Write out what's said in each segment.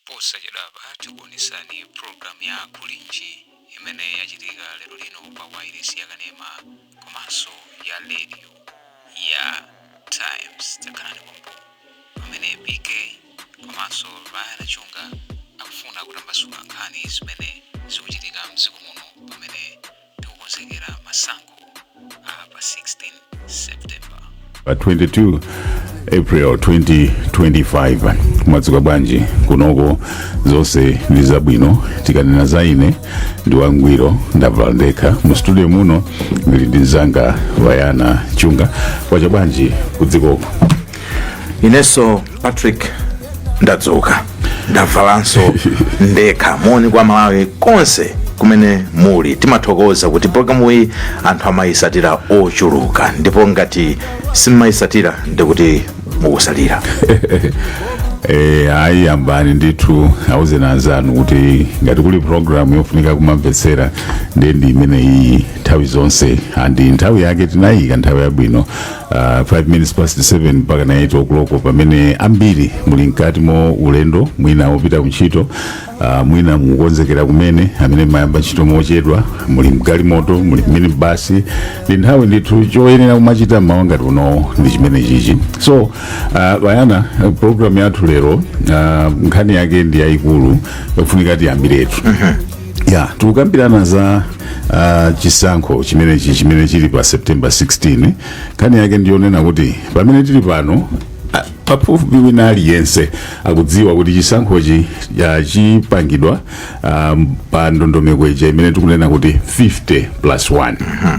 posachedwapa tikuonesani pulogalamu ya kulinji imene yachitika lero lino pa wairesi ya kanema komanso ya radio ya times khalani pompo pamene pk komanso ryan chunga akufuna kutambasula nkhani zimene zikuchitika mdziko muno pamene tikukonzekera masankho a pa 16 september pa 22 april 2025 mwadzuka bwanji kunoko zonse ndi zabwino tikanena za ine ndi wangwiro ndavala ndekha mu studio muno ndili ndi mzanga ryan chunga kwacha bwanji kudzikoko ineso patrick ndadzuka ndavalanso ndekha moni kwa amalawi konse kumene muli timathokoza kuti programu iyi anthu amayisatira ochuluka ndipo ngati simmayisatira ndikuti mukusalira Eh, ayi yambani ndithu awuzeni anzanu kuti ngati kuli programu yofunika kumamvetsera ndiye ndi imene iyi nthawi zonse andi nthawi yake tinayika nthawi yabwino Uh, 5 minutes past 7 mpaka na 8 o'clock pamene ambiri muli mkati mo ulendo mwina opita kuntchito uh, mwina mukukonzekera kumene amene mumayamba ntchito mochedwa muli mgalimoto muli mminibasi ndi nthawi ndithu choyenera kumachita mmawa ngati uno ndi chimene chichi so uh, ryan uh, program yathu lero uh, nkhani yake ndi yayikulu yofunika tiyambiretu ya tikukambirana za uh, chisankho chimenechi chimene chili pa september 16 nkhani yake ndiyonena kuti pamene tili pano a- pafupi wina aliyense akudziwa kuti chisankhochi ya, chipangidwa um, pa ndondomeko ija imene tikunena kuti 50 plus 1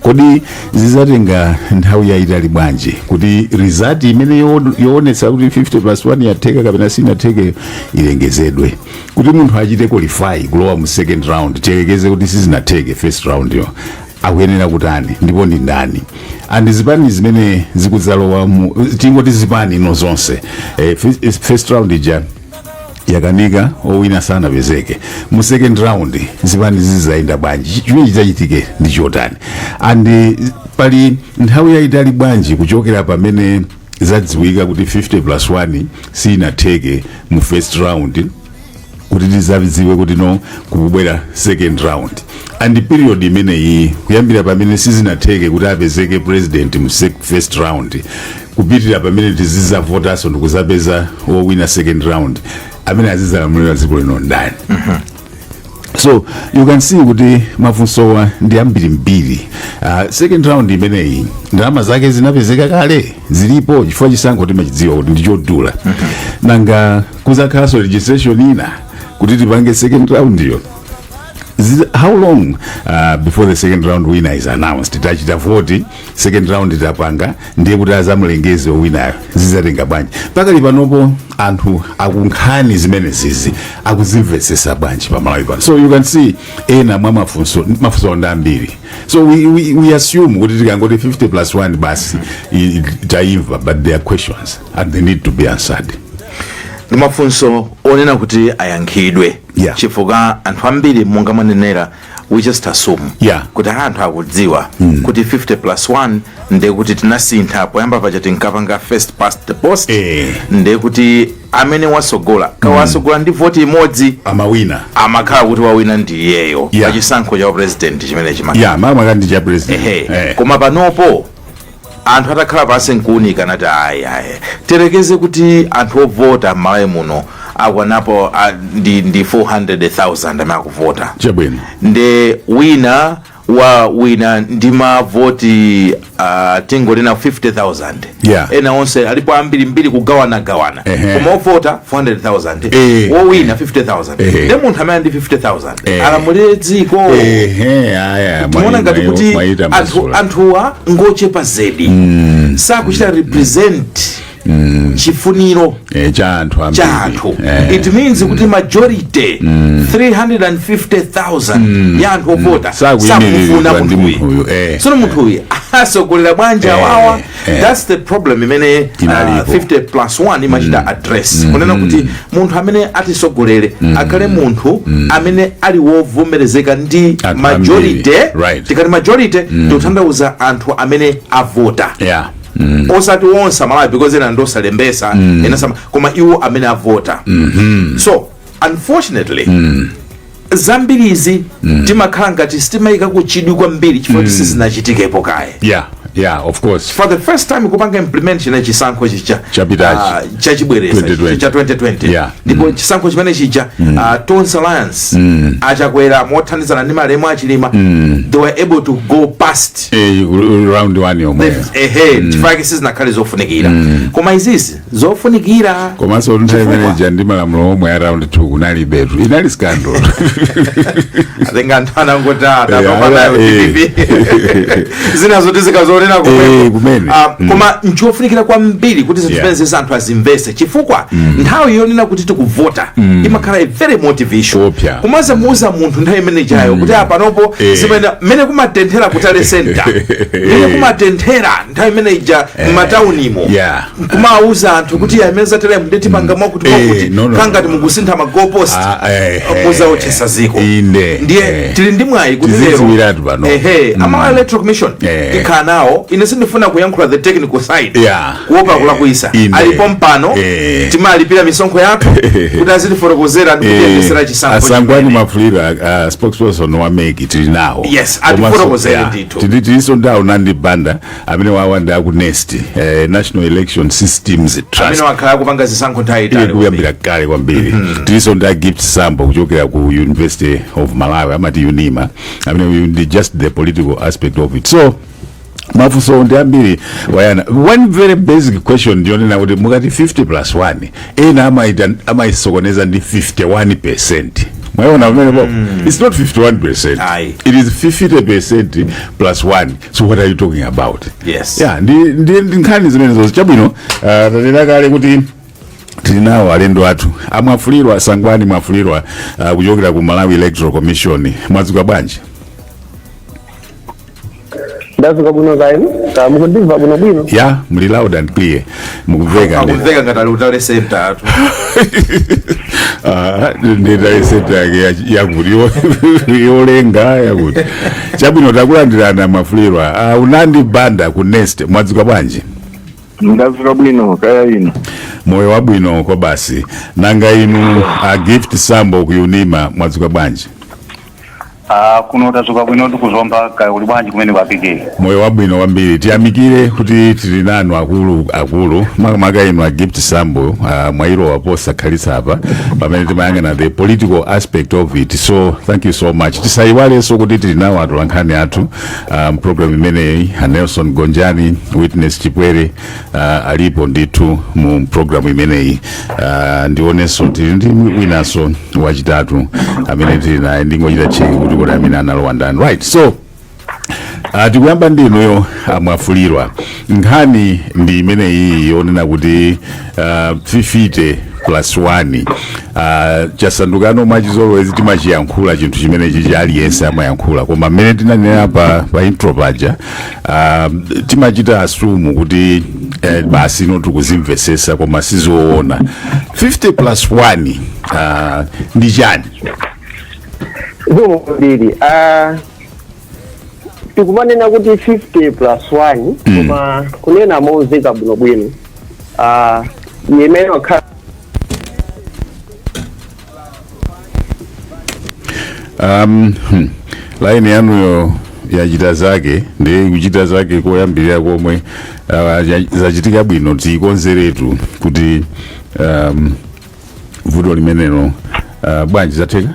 kodi zizatenga nthawi yayitali bwanji kuti result imene yo- yoonetsa kuti 50 plus 1 yatheka kapena sinatheke ilengezedwe kuti munthu achite qualify kulowa mu second round tiyerekeze kuti sizinatheke first round yo akuyenera kutani ndipo ndi ndani and zipani zimene zikudzalowa mu tingoti zipani ino zonse eh, fis- first round ija yakanika owina sanapezeke mu second round zipani zizayenda bwanji chimene chidzachitike ndi chotani and pali nthawi yayitali bwanji kuchokera pamene zadziwika kuti 50 plus 1 sinatheke mu first round kuti tizadziwe kuti no kukubwera second round and period imeneyi kuyambira pamene sizinatheke kuti apezeke president mu sec- first round kupitilira pamene tizizavotaso ndikuzapeza wowina second round amene azizalamulira dziko lino ndani mm -hmm. so you can see kuti mafunsowa ndi ambiri mbiri uh, second round imeneyi ndalama zake zinapezeka kale zilipo chifukwa chisankho timachidziwa kuti ndichodula mm -hmm. nanga kuzakhalanso registration ina kuti tipange second round yo how long uh, before the second round winner is announced tachita vote second round itapanga ndiye kuti azamulengeze owinayo zizatenga bwanji pakali panopo anthu aku nkhani zimenezizi akuzimvesesa bwanji pamalawi pano so you can see ena mwa mafunso mafunso ndi ambiri so we, we, we assume kuti tikangoti 50 plus 1 basi i- i- taimva but there are questions and they need to be answered ndi mafunso ofuna kuti ayankhidwe Yeah. chifukwa anthu ambiri monga mwanenera we just assume Yeah. kuti anthu akudziwa kuti 50 plus 1 ndiye kuti tinasintha poyamba paja tinkapanga first past the post Eh. ndiye kuti amene wasogola kaya wasogola ndi voti imodzi amawina amakhala kuti wawina ndi iyeyo Yeah. pachisankho cha president chimene chimayimira makamaka ndi cha president ehe Eh. koma panopo anthu atakhala pansi nkuunika anati ayi ayi tiyerekeze kuti anthu ovota m'malawi muno akwanapo ah, ndi, ndi 400,000 amene akuvota chabwino nde wina wawina ndi mavoti uh, tingonena 50000 Yeah. ena onse alipo ambiri mbiri kugawana gawana Ehe. koma ovota 400000 Eh. wowina 50000 Ehe. nde munthu ameneyu ndi 50000 Eh. alamulire dziko Ehe, aya, timaona mwa- ngati mwa- kuti mwai- anthu- tamasula. anthuwa ngochepa zedi sakuchita represent chifuniro Eh, cha anthu ambiri. cha anthu Eh. it means kuti majority 350000 ya anthu ovota Sakuyimiridwa sakufuna ndi munthuyu munthuyu, eh. sono munthuyu asogolera bwanji awawa that's the problem imene uh, Inalipo. 50 plus 1 imachita address kunena kuti munthu amene atisogolere akhale munthu amene ali wovomerezeka ndi Anthu majority ambiri, right. tikati majority tikutanthauza anthu amene avota yeah mm. osati onse amalawi because ena ndiosalembesa ena sama koma iwo amene avota so unfortunately zambirizi timakhala ngati sitimayika kuchidwi kwambiri chifukwa kuti sizinachitikepo kaye yeah yeah of course for the first time kupanga implement china chisankho chija Chapitachi. ah, chachibwereza 2020. cha 2020 Yeah. ndipo chisankho chimene chija ah, Tonse Alliance a Chakwera mothandizana ndi malemu a Chilima they were able to go past eh, round one yomweyo ehe chifukwa sizinakhale zofunikira koma izizi zofunikira komanso nthawi Chifukwa- imeneja ndi malamulo omwe a round two kunalibetu inali scandal atenga anthu anangoti Eh, atapambanayo eh. dpp zina zoti zikazionera Eh, kumene. kumene Ah, Mm. koma nchofunikira kwambiri kuti zinthu Yeah. zimene zisa anthu azimvese chifukwa nthawi yonena kuti tikuvota imakhala a very motivation Opya. komanso muuza munthu nthawi imene ijayo kuti apanopo Eh. zimene mmene kumatenthera ku tally center mmene kumatenthera nthawi imene ija m'mataunimo Yeah. nkumawuza anthu kuti mm. mmene zateremu nde tipanga mwakuti eh, mwakuti no, no, kangati no, no. mukusintha ma goal post ah, eh, eh, mudzawotchetsa dziko inde ndiye eh. tili ndi mwayi kuti lero pano ehe mm. ama electoral commission eh. tikhala nawo ine sindifuna kuyankhula the technical side yeah. kuopa eh. kulakwitsa alipo pompano eh. timalipira misonkho yathu kuti azitifotokozera ndi kutiyendetsera eh. chisankho a sangwani mwafulirwa a uh, uh, spokesperson wa mec tili nawo yes atifotokozere ndithu tili tilinso ndi a unandi banda amenewa ndi a ku nest eh, national election systems trust amene akhala akupanga zisankho nthawi yaitali kuyambira kale kwambiri tilinso ndi a gift sambo kuchokera ku university of malawi amati unima amene uyu ndi just the political aspect of it so mafunso ndi ambiri wayana one very basic question ndiyonena kuti mukati 50 plus 1 ena amaita- amaisokoneza ndi 51 percent mwayiona pamenepopo it's not 51 percent Ayi. it is 50 percent plus 1 so what are you talking about Yes. yeah ndi ndi ndi nkhani zimenezo chabwino uh, tanena kale kuti tili nawo alendo athu a mwafulirwa sangwani mwafulirwa uh, kuchokera ku malawi electoral commission mwadzuka bwanji ndadzuka bwino kaya inu kaya mukundimva bwinobwino ya muli loud and clear mukumveka ndi- akumveka ngati ali ku tally centertu Ah, nde tally center yake ya- yakuti yo- yolenga yakuti chabwino takulandirani a mwafulirwa a unandi banda ku nest mwadzuka bwanji ndadzuka bwino kaya inu moyo wabwino kwabasi nanga inu a gift sambo ku unima mwadzuka bwanji Ah, kuno tadzuka bwino tili ku zomba kaya kuli bwanji kumene kwapikira moyo wabwino kwambiri tiyamikire kuti tili nanu akulu akulu makamaka inu a gift sambo uh, mwayilowa posakhalitsa apa pamene timayang'ana the political aspect of it so thank you so much tisayiwalenso kuti tili nawo atolankhani athu mu program imeneyi a nelson gonjani witness chipwere uh, alipo ndithu mu programu imeneyi uh, ndionenso tili ndi winanso wachitatu amene tili naye ndingochita cheki kuti kodi amene analowa ndani right so Uh, tikuyamba ndi inuyo a mwafulirwa nkhani ndi imeneyi yonena kuti uh, 50 plus 1 uh, chasandukano mwachizolowezi timachiyankhula chinthu chimenechi cha aliyense amayankhula koma mmene tinanenera pa, pa intro paja Ah, timachita assume kuti eh, basi ino tikuzimvesesa koma sizoona 50 plus 1 ah, ndi chani zikomo kwambiri Ah, tikumanena kuti 50 plus 1 koma kunena mozika bwinobwino Ah, imene wakhala um, hmm, laini yanuyo yachita zake ndi kuchita zake koyambirira komwe uh, ya- zachitika bwino tikonzeretu kuti um, vuto limenelo uh, bwanji zatheka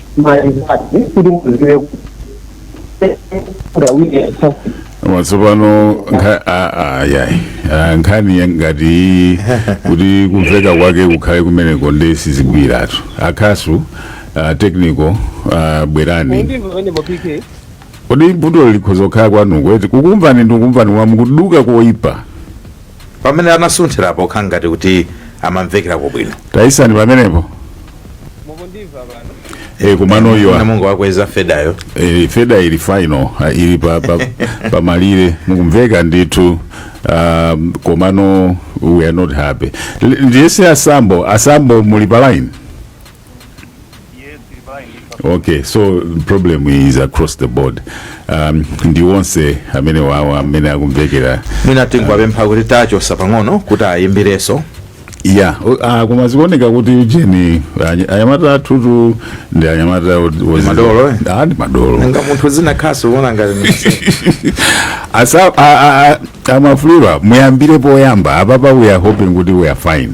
maizati kuti muziwe ngawire sasi koma tsopano nkha- a- a- ayayi Ah, nkhani ya- ngati iyi kuti kumveka kwake kukhale kumeneko ndiye sizigwiratu akhasu ah, technical ah, bwerani ndimva pamene mapike kodi vuto likhoza kukhala kwanuko eti kukumvani ndikukumvani koma mukuduka koyipa pamene anasunthirapo kukhala ngati kuti amamvekerako bwino tayisani pamenepo mukundimva pano e, komano iwa namungu wakweza fedayo e, feda ili final ah, ili pa, pa, pa malire mukumveka ndithu um, komano we are not happy L- ndiyese asambo asambo muli pa line okay so problem is across the board um, ndi onse amenewa amene akumvekera mwina tingowapempha kuti tachotsa pang'ono kuti ayimbirenso yeah o- ah, koma zikuoneka kuti ujeni any- anyamata athutu ndi anyamata ot- was- madolo, eh? Ah, ndi madolo nga munthu zinakhaso uona ngati ni- Asa- a- a- a- amafulira muyambire poyamba apapa we are hoping kuti we are fine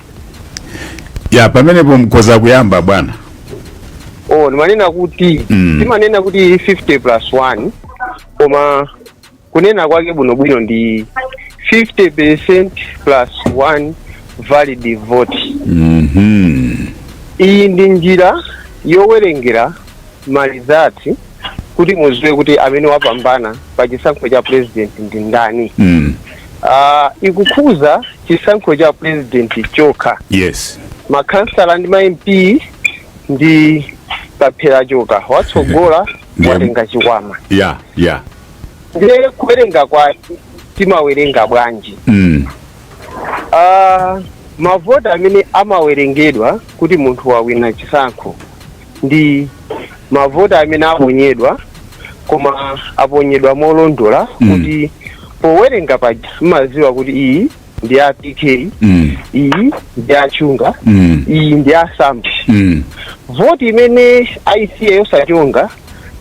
ya pamenepo mkhoza kuyamba bwana oh ndimanena kuti Mm. timanena kuti 50 plus 1 koma kunena kwake bwinobwino ndi 50 percent plus 1 valid vote Mhm. iyi ndi njira yowerengera ma result kuti muziwe kuti amene wapambana pa chisankho cha president ndi ndani mm. uh, ikukhuza chisankho cha president chokha yes makhansala ndi ma mp ndi pakwera tchoka watsogola Ndiye- watenga chikwama ya ya ndiye kuwerenga kwake timawerenga bwanji mm. uh, mavoti amene amawerengedwa kuti munthu wawina chisankho ndi mavoti amene aponyedwa koma aponyedwa molondola Mm. kuti powerenga paja mumaziwa kuti iyi ndi ya pk Mm. iyi ndi ya chunga Mm. iyi ndi ya sambi Mm. voti imene aisiya yosachonga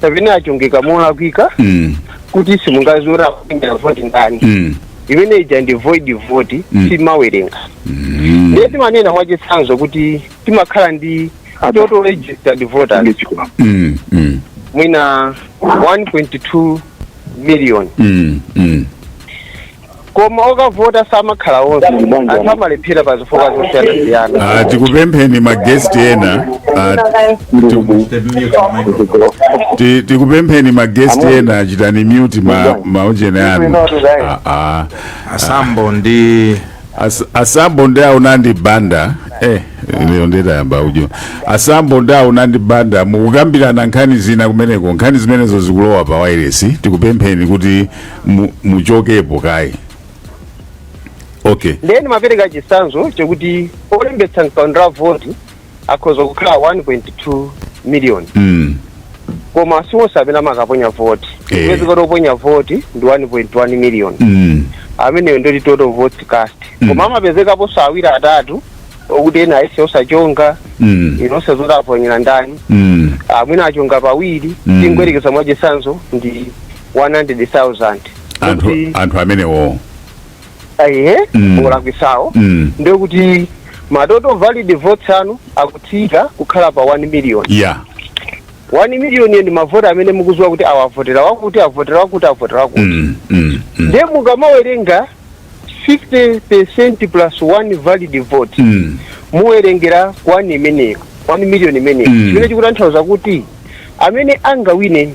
kapena achongeka molakwika Mm. kuti simungaziwe wavotera voti ndani Mm. imene ija ndi void voti Mm. sitimawerenga Mm. ndiye timanena mwachitsanzo kuti timakhala ndi total registered voters Mm, mm, mwina 1.2 million mm, mm. koma okavota samakhala onse anthu amalephera pa zifukwa zosiyanasiyana Ah, tikupempheni magesti ena ah, tiku- ti- tikupempheni magesti ena chitani mute ma maujeni anu Ah, ah. asambo ndi As, asambo ndi aunandi banda eh lero titayamba ujeni asambo ndi aunandi banda mukukambirana nkhani zina kumeneko nkhani zimenezo zikulowa pa wairesi tikupempheni kuti mu- muchokepo kaye okay nde ndimapereka chisanzo chokuti olembetsa mkaundula voti akhoza kukhala 1.2 miliyoni mm. koma si onse amene amakaponya voti Eh. kupezeka kuti oponya voti ndi 1.1 miliyoni mm. amenewo ndoti total votes cast Mm. koma amapezekaponso awiri atatu okuti ena aisiya yosachonga mm. simukuziwa zoti aponyera ndani mm. mwina achonga pawiri Mm. tingoyerekeza mwachisanzo ndi 100,000 anthu Kuti- anthu amenewo ehe Mm. olakwisawo Mm. ndiye kuti ma total valid votes anu akutsika kukhala pa 1 million 1 million ndi mavoti amene mukuziwa kuti awa avotera wakuti avotera wakuti avotera wakuti Mm, mm, mm. ndiye mukamawerenga 50 percent plus 1 valid vote Mm. muwerengera 1 imeneyo 1 million imeneyo Mm. chimene chikutanthauza kuti amene angawine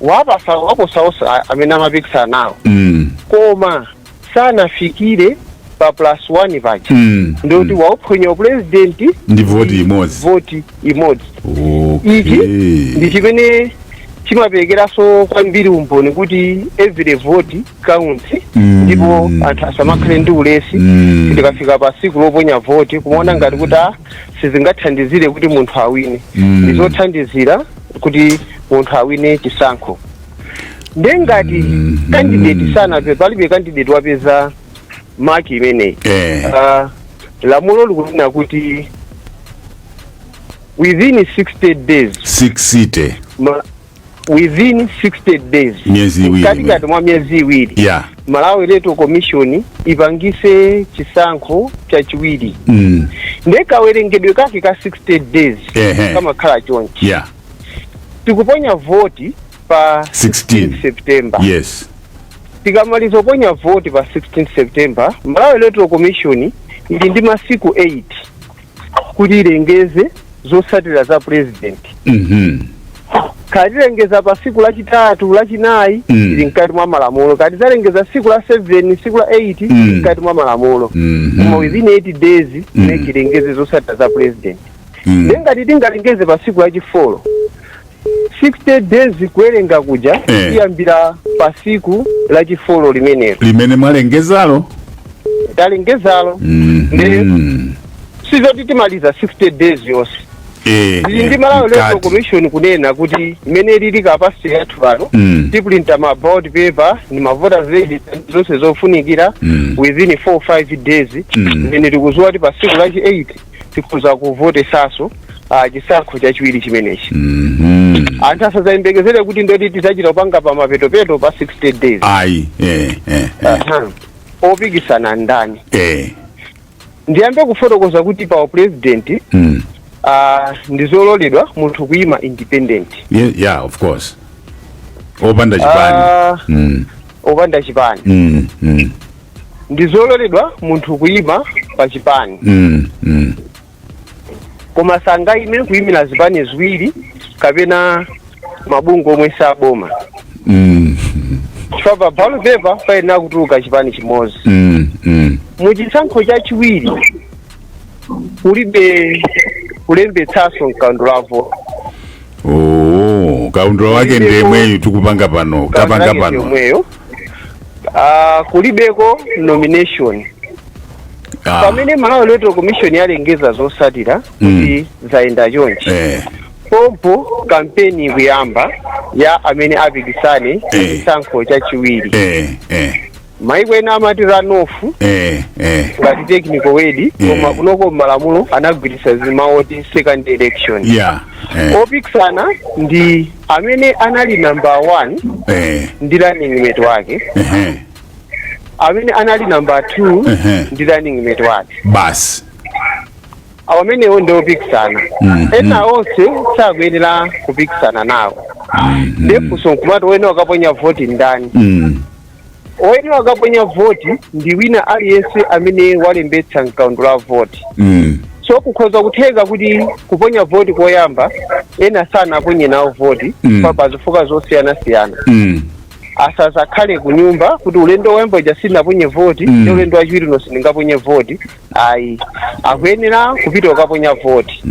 wapo- waposa onse a- amene amapikisana nawo Mm. koma sanafikire pa plus one paja Mm. ndikuti wauphonya upulezidenti Ndi voti imodzi. voti imodzi ichi ndi Okay. chimene chimaperekeranso kwambiri umboni kuti every vote counts ndipo anthu asamakhale ndi ulesi kuti tikafika pa tsiku loponya voti kumaona ngati kuti ah, sizingathandizire kuti munthu awine ndizothandizira kuti munthu awine chisankho nde ngati kandideti sanape palibe kandideti wapeza maki imeneyi Eh. Ah, lamulo likunena kuti within 60 days sixty days within 60 days Miyezi iwiri mkati katikati mwa miyezi iwiri ya malawi electoral commission ipangise chisankho chachiwiri mm. nde kawerengedwe kake ka 60 days Ehe. kamakhala chonchi ya tikuponya voti pa 16. september yes tikamaliza kuponya voti pa 16 september malawi electoral commission ili ndi masiku 8 kuti ilengeze zotsatira za purezidenti Mhm. kaya tilengeza pa siku lachitatu lachinayi Mm. ili mkati mwa malamulo kaya tizalengeza siku la 7 siku la 8 Mm. ili mkati mwa malamulo Mhm. koma within 8 days Mm. ikhale italengeza zotsatira za purezidenti Mm. nengati tingalengeze pa siku lachifolo 60 days kuwerenga kuja Eh. tiyambira pa siku la chifolo limenelo limene mwalengezalo talengezalo Mhm. sizoti timaliza 60 days yonse Eh, zili ndi eh, malawi electoral mkati. commission kunena kuti mmene ilili capacity yathu pano Mm. tipulinta ma ballot paper ndi ma voters register ndi zonse zofunikira Mm. within 45 days Mm. zimene tikuziwa kuti pa siku lachi 8 tikhoza kuvotetsanso uh, chisankho chachiwiri chimenechi Mhm. anthu asazayembekezere kuti ndi zoti tidzachita kupanga pa mapetopeto pa 60 days ayi eh, eh, eh, Aha. opikisana ndani eh. ndiyambe kufotokoza kuti pa upresident Mm. uh, ndizololedwa munthu kuyima independent Ye- yeah of course opanda chipani Ah. mm. opanda chipani mm. Mm. ndi zololedwa munthu kuyima pa chipani mm, mm. koma sangayime kuyimira zipani ziwiri kapena mabungwe omwe si aboma Mm, chifukwa pa ballot paper payenera kutuluka chipani chimodzi mm, mm. muchisankho chachiwiri kulibe kulembetsanso m'kaundula voti Oh, kaundula wake ndi yemweyu tikupanga pano tapanga pano yomweyo Ah, kulibeko nomination Ah, pamene malawi electoral commission yalengeza zosatira Mm. kuti zayenda chonchi eh, pompo kampeni ikuyamba ya amene apikisane Eh. chisankho chachiwiri eh, eh, maiko ena amati runoff eh, eh, ngati technical word Eh. koma kunoko malamulo anagwiritsa ntchito mawu oti second election yeah, eh. opikisana ndi amene anali number one eh ndi running mate wake ehe amene anali number two Ehe. ndi running mate wake basi amenewo ndi opikisana ena onse sakuyenera kupikisana nawo ndi funso nkumati ena akaponya voti ndani mm. oyenera ukaponya voti ndi wina aliyense amene walembetsa mkaundula wa voti mm. so kukhoza kutheka kuti kuponya voti koyamba ena sanaponye nawo voti Mm. pa pa zifukwa zosiyanasiyana Mm. asazakhale kunyumba kuti ulendo woyamba uja sinaponye voti Mm. nde ulendo wachiwiri uno sindingaponye voti ayi akuyenera kupita ukaponya voti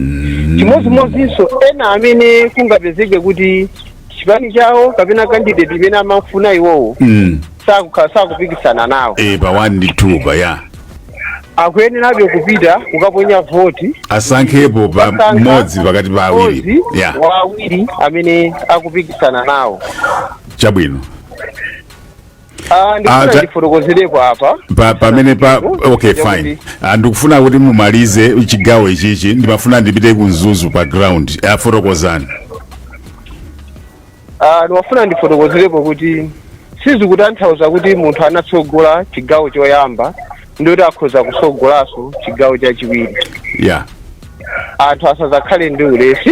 chimodzimodzinso ena amene kungapezeke kuti chipani chawo kapena candidate imene amafuna iwowo mm. sakukhala sakupikisana nawo e pa 1 ndi 2 pa ya akuyenerabe kupita kukaponya voti asankhepo pa mmodzi pakati pa awiri mmodzi ya wa awiri amene akupikisana nawo chabwino Ah, ndikufuna Acha- ndifotokozerepo apa pa, pamene pa okay fine Ah, ndikufuna kuti mumalize chigawo ichichi ndimafuna ndipite ku Mzuzu pa ground afotokozani Ah, ndimafuna ndifotokozerepo kuti sizikutanthauza kuti munthu anatsogola chigawo choyamba nde kuti akhoza kutsogolanso chigawo chachiwiri yeah anthu asazakhale ndi ulesi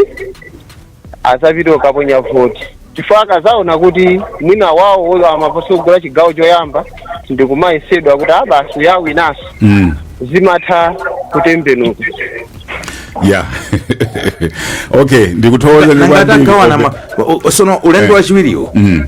azapite ukaponya voti chifukwa akazaona kuti mwina wawo ulo amasogola chigawo choyamba ndikumayesezera kuti a basi uja wawinanso mm. zimatha kutembenuka ya okay ndikuthokozeni a Ngawana ma- o- o- sono ulendo wachiwiriwo mm.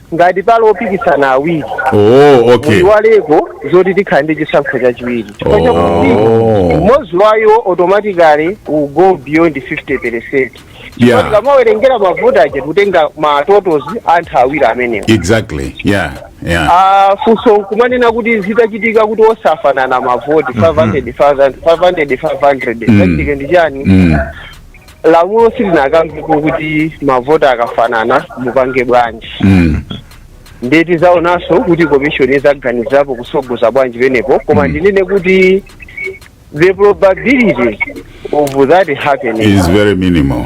ngati pali opikisana awiri oh okay muyiwaleko zoti tikhala ndi chisankho chachiwiri chifukwa Oh. chakuti mmodzi wayo automatically will go beyond 50 percent Yeah. tikamawerengera mavoti aja tikutenga ma totals anthu awiri amenewo exactly yeah yeah Ah, funso kumanena kuti zitachitika kuti onse afanana mavoti 500 500 500 zichitika ndi chani Mm. lamulo silinakambepo kuti mavoti akafanana mupange bwanji mm. ndiye tizaonanso kuti komishoni izaganizirapo kusogoza bwanji penepo koma Mm. ndinene kuti the probability of that happening is very minimal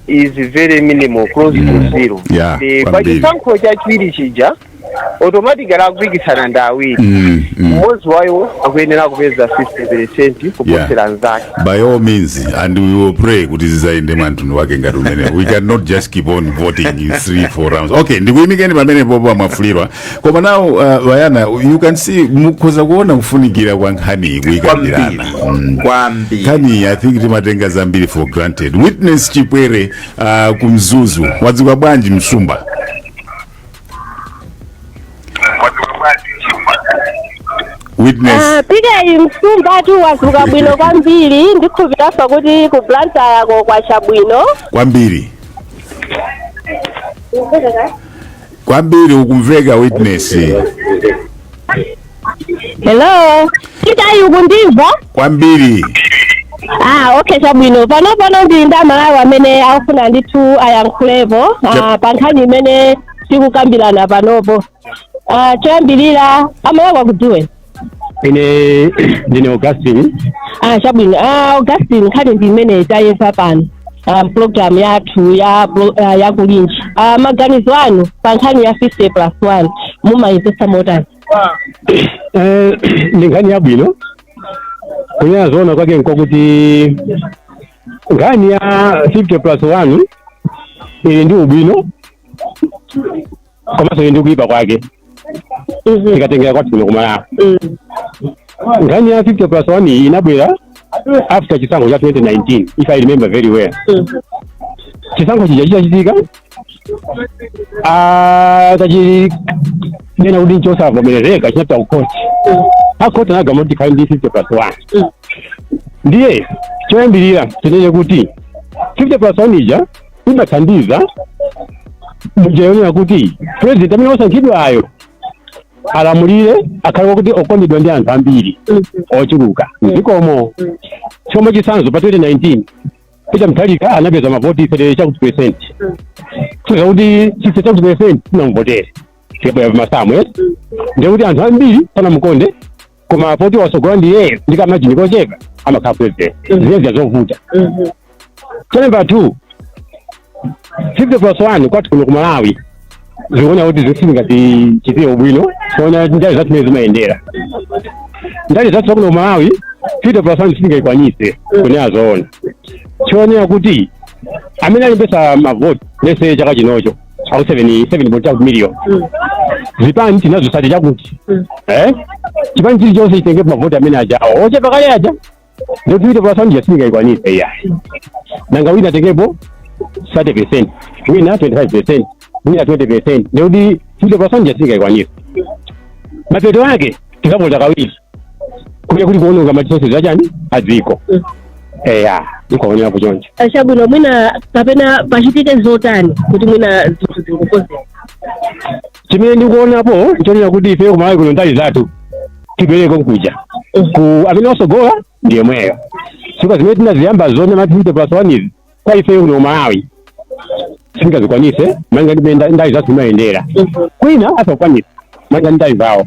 is very minimal close Mm. to zero Yeah, Eh, kwambiri. pachisankho chachiwiri chija automatically akupikisana ndi awiri Mm, mm. mmodzi wayo akuyenera kupeza 50 percent kuposera nzake by all means and we will pray kuti zizayende mwantundu wa ngati umene we cannot just keep on voting in three four rounds okay ndikuyimikeni pamenepopo a Mwafulirwa koma now uh, wayana you can see mukhoza kuona kufunikira kwa nkhani tikukambiranayi kwambiri kwambiri nkhani i think timatenga zambiri for granted Witness Chipwere uh, ku Mzuzu kwadzuka bwanji mtsumba witness Ah, pikeyi msumba tawadzuka bwino kwambiri ndikhulupirira kuti ku blantyre-ko kwacha bwino kwambiri kwambiri ukumveka witness hello pikeyi ukundimva kwambiri ah okay chabwino pano pano ndili ndi amalawi amene akufuna ndithu ayankhulepo ah, Yep. pa nkhani imene tikukambirana panopo ah, choyambirira amalawi akudziwe ine ndine augustine ah, chabwino ah, augustine nkhani ndi imene tayedza pano ah, program yathu ya pro- ah, ya kulinji ah, maganizo anu pa nkhani ya 50 plus 1 mumayimvetsa motani Eh, ndi nkhani yabwino kunena zoona kwake nkokuti nkhani ya 50 plus 1 ili ndi ubwino komanso ili ndi kuyipa kwake tikatengera kwathu kuno kumalawi nkhani ya 50 plus 1 iyi inabwera after chisankho cha 2019 if i remember very well chisankho chija chitachitika atachinena kuti nchosavomerezeka chinapita kukhoti akhoti anagamula kuti kukhale ndi 50 plus 1 ndiye choyambirira tinene kuti 50 plus 1 ija imathandiza mnjira yonena kuti president amene wasankhidwayo alamulire akhale wakuti okondedwa ndi anthu ambiri ochuluka mdzikomo chomwe chitsanzo pa 2019 Peter Mutharika anapeza mavoti 30 chakuti percent kutanthauza kuti 60 chakuti percent sanamvotere tikabwera pamasamu ake ndiye kuti anthu ambiri sanamukonde koma poti watsogola ndi iyeyo ndi kamajini kochepa amakhala president ndiye ndi zovuta cha number two 50 plus 1 kwathu kuno ku malawi zikuoneka kuti sizingatichitire ubwino kuona ndale zathu mene zimayendera ndale zathu zakuno ku malawi 50 plus 1 sindingayikwanise kunena zoona tionere kuti amene alembetsa mavoti lets say chaka chinocho alipo 7 million zipani tili nazo thirty chakuti eh chipani chilichonse chitenge mavoti amene ajawo ochepa kale aja ndikuti pa sound yasika ikwanise ya nanga wina tekepo 30% wina 25% wina 20% ndikuti futi pa sound yasika ikwanise mapeto ake tikapota kawiri kuya kuli kuononga matisosi zachani adziko eya ndikuonera kuchonja achabwino mwina kapena pachitike zotani kuti mwina zinthu zingokozera chimene ndikuonapo nchonena kuti ifeyo kumalawi kuno ndale zathu tipereko nkuja ku amene wasogola ndi yemweyo chifukwa zimene tinaziyamba zone mati zite plus one izi kwa ifeyo kuno kumalawi singazikwanise manga ndimene ndale zathu zimayendera kwina asakwanisa manga ndale zawo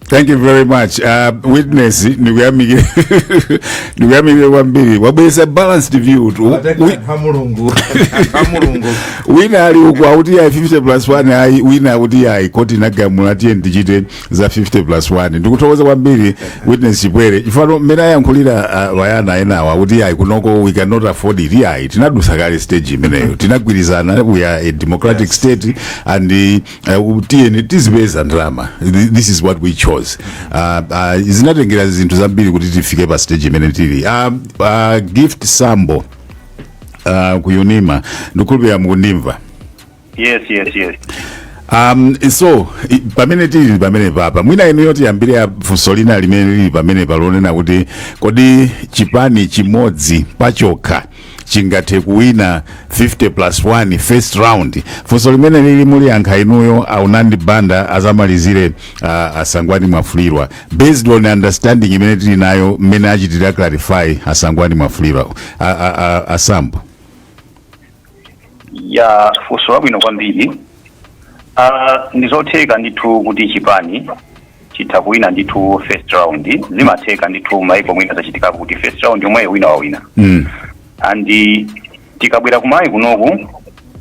thank you very much uh, witness ndikuyamikire ndikuyamikire kwambiri wabweresa balanced view tu- wi- pamulungu pamulungu wina ali uku akuti yayi 50 plus 1 ayi wina akuti yayi koti inagamula tiyeni tichite za 50 plus 1 ndikuthokoza kwambiri witness chipwere chifukwa mmene ayankhulira uh, wayana enawa akuti yayi kunoko we cannot afford it yayi tinadusa kale stage imeneyo tinagwirizana we are a democratic state and uh, Uh, tiyeni tizipeza ndalama Th- this is what we chose uh, uh, zinatengera zinthu zambiri kuti tifike pa stage imene tili uh, uh, gift sambo uh, ku unima ndikhulupirira mukundimva yes yes yes um, so i- pamene tili pamene papa mwina inuyo tiyambire funso lina limene lili pamenepa lonena kuti kodi chipani chimodzi pachokha chingathe kuwina 50 plus 1 first round funso limene lili muliyankha inuyo a Unandi Banda azamalizire uh, a Sangwani Mwafulirwa based on understanding imene tili nayo mmene achitira clarify a Sangwani Mwafulirwa A- a- a- a Sambo ya funso labwino kwambiri Ah, ndizotheka ndithu kuti chipani chitha kuwina ndithu first round zimatheka ndithu maiko mwina zachitikapo kuti first round yomweyo wina wawina Mm. and tikabwera ku Malawi kunoku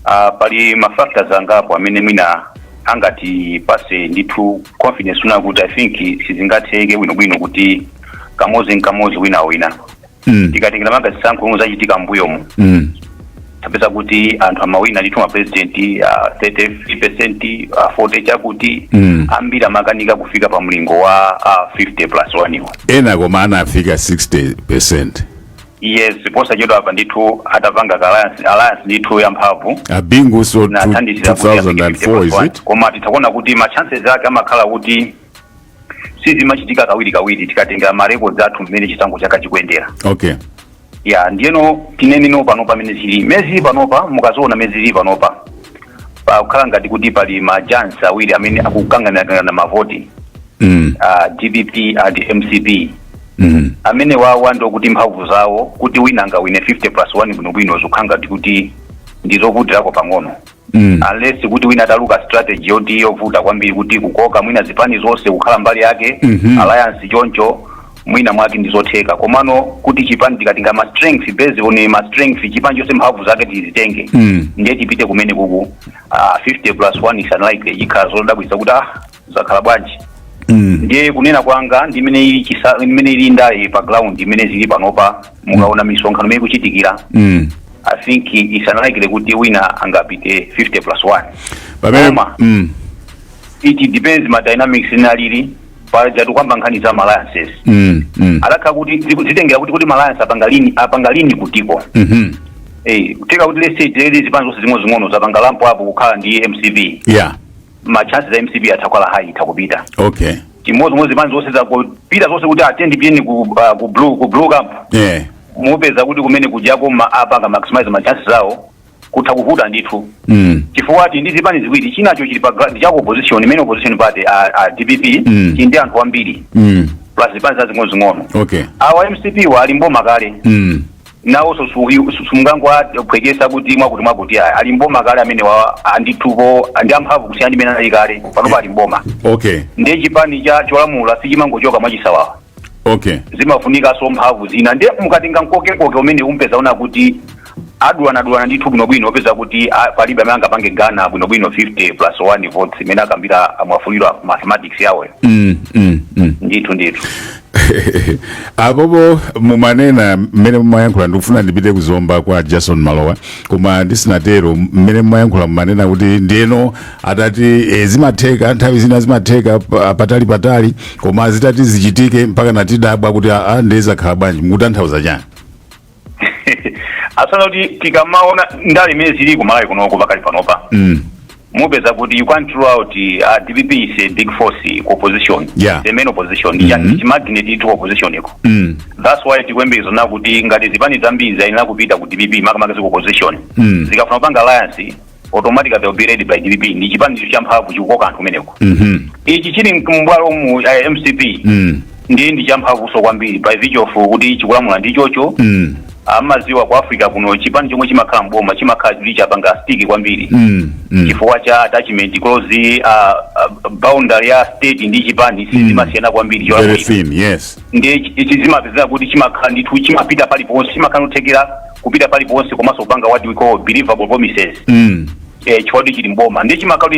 uh, pali mafactors angapo amene mwina angatipase ndithu confidence kunena kuti i think sizingatheke bwinobwino kuti kamozi nkamozi wina wawina Mm. tikatengera malinga zisankho omwe zachitika mbuyomu Mm. tapeza kuti anthu amawina ndithu ma president uh, 33 percent uh, 40 chakuti Mm. ambiri amakanika kufika pa mlingo wa uh, 50 plus 1 iwo ena koma anafika 60 percent yes posachedwa apa ndithu atapanga ka alliance, alliance ndithu ya mphamvu a Bingu so na two- athandizira kuti afike 50 2004 plus is 1. it koma titha kuona kuti ma chances ake amakhala kuti sizimachitika kawiri kawiri tikatengera marekodzi athu mmene chisankho chakhala chikuyendera okay ya ndiyeno tinene no panopa mmene zilili mmene zilili panopa mukaziona mmene zilili panopa pakukhala ngati kuti pali ma giants awiri amene akukanganirana mavoti mm. uh, dpp and mcp Mm. amenewawa ndokuti mphamvu zawo kuti wina angawine 50 plus 1 bwinobwino zikukhala ngati kuti ndizovutirako pang'ono Mm. unless kuti wina atatuluka strategy yoti yovuta kwambiri kuti kukoka mwina zipani zonse kukhala mbali yake Mhm. alliance choncho mwina mwake ndizotheka komano kuti chipani tikatenga ma strength based on ma strength chipani chonse mphamvu zake tizitenge Mm. ndiye tipite kumene kuku ah, 50 plus 1 is unlikely ikhala zodabwitsa kuti ah zakhala bwanji Mm. ndiye kunena kwanga ndi mmene ili chisa mmene ilili ndale pa ground mmene zilili panopa mukaona misonkhano mmene ikuchitikira Mm. i think it's unlikely kuti wina angapite 50 plus 1 Pamene Koma. mm. it depends ma dynamics inalili pajatu kwayamba nkhani za alliances Mm. Mm. alakha kuti ziku- zitengera kuti kuti alliance apanga lean apanga lean kutiko Mhm. eh kutheka kuti let's say tele zipani zonse zing'onozing'ono zapanga lump up kukhala ndi mcp Yeah. ma chances za mcp atha kukwera high itha kupita okay chimodzimodzi zipani zonse zakupita zonse kuti atende piyeni ku uh, ku blue ku blue camp yeah mupeza kuti kumene kujako ma apanga maximize ma chances zawo kutha kuvuta ndithu mm. chifukwa ati ndi zipani ziwiri chinacho chili pa gra- ndi cha opposition imene opposition party a, a dpp Mm. chili ndi anthu ambiri Mm. plus zipani zazing'onozing'ono okay awa mcp wo ali mboma kale mm. nawoso simungangowaphwekesa kuti mwakuti mwakuti aya ali mboma kale amenewo ndithupo ndi amphamvu kusiyana ndi mene anali kale panopa ali mboma okay ndiye chipani cha cholamula sichimangochoka mwachisawawa okay zimafunikanso mphamvu zina ndiye mukatenga mkokekoke umene umpeza uona kuti adulanadulana ndithu bwinobwino opeza kuti ah, palibe amene angapange garner bwinobwino 50 plus 1 votes mmene akambira a Mwafulirwa mathematics yawoyo mm, mm, mm. ndithu ndithu apopo mumanena mmene mumayankhula ndikufuna ndipite ku Zomba kwa Jason Malowa koma ndisinatero mmene mumayankhula mumanena kuti ndiyeno atati e, zimatheka nthawi zina zimatheka pa- patali patali koma zitati zichitike mpaka nkutidabwa kuti aa ndiye zakhala bwanji mukutanthauza chani Ah kunena kuti tikamaona ndale mmene zilili ku malawi kunoko pakali panopa mm. mupeza kuti you can't rule out uh, dpp is a big force ku opposition Yeah. the main opposition mm Mhm. -hmm. magnet itu opposition iko Mm. that's why tikuyembekezera kuti ngati zipani zambiri zayenera kupita ku dpp makamaka za ku opposition Mm. zikafuna kupanga alliance automatically they'll be led by dpp ndi chipanicho champhamvu chikukoka anthu kumeneko Mhm. ichi chili m'bomamu eh, mcp Mm. ndiye ndi champhamvuso kwambiri by virtue of kuti chikulamula ndi chochi Mm. mmaziwa ku africa kuno chipani chomwe chimakhala mboma chimakhala chili chapanga stick kwambiri Mm. Mm. chifukwa cha attachment close uh, uh, boundary ya state ndi chipani sizimasiyana kwambiri Very cholamulira thin, yes. ndiye ichi zimapezeka kuti chimakhala ndithu chimapita paliponse chimakhala kuthekera kupita paliponse komanso kupanga what we call believable promises mm. eh, chifukwa chili mboma ndiye chimakhala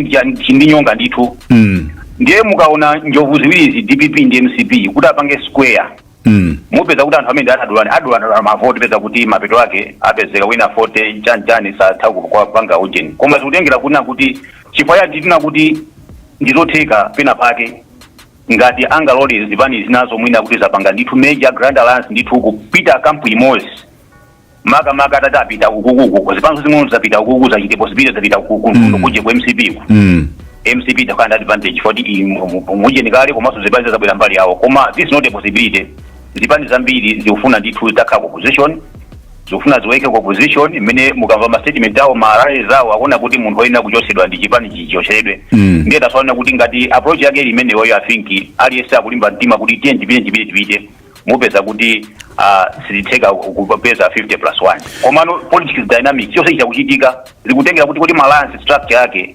ndi nyonga ndithu mm. ndiye mukaona njovu ziwirizi dpp ndi mcp kuti apange square mm. mupeza kuti anthu amene adulani adulana mavoti peza kuti mapeto ake apezeka wina 40 chanchani sathakukwanitsa kupanga ujeni koma zikutengera kunena kuti chifukwa cha tinena kuti ndizotheka pena pake ngati angalole zipani zinazo mwina kuti zapanga ndithu major grand alliance ndithu kupita kampu imodzi makamaka atapita ukukuku zipani zing'ono zapita ukuku zachite possibility zapita ukuku Mm. kuje ku mcp ku Mm. mcp izakhala ndi advantage foti mujeni kale komanso zipani zizabwera mbali yawo koma this is not a possibility zipani zambiri zikufuna ndithu takhala ku opposition zikufuna ziwaike ku opposition mmene mukamva ma statement awo ma rallies awo akuona kuti munthu oyenera kuchotsedwa ndi chipani chichotsedwe Mm. ndiye tasaona kuti ngati approach yake ili imeneyo i think aliyense akulimba mtima kuti tiye tipite tipite tipite mupeza kuti uh, sizitheka kupeza 50 plus 1 komano politics dynamics chonse chikuchitika zikutengera kuti kuti ma alliance structure yake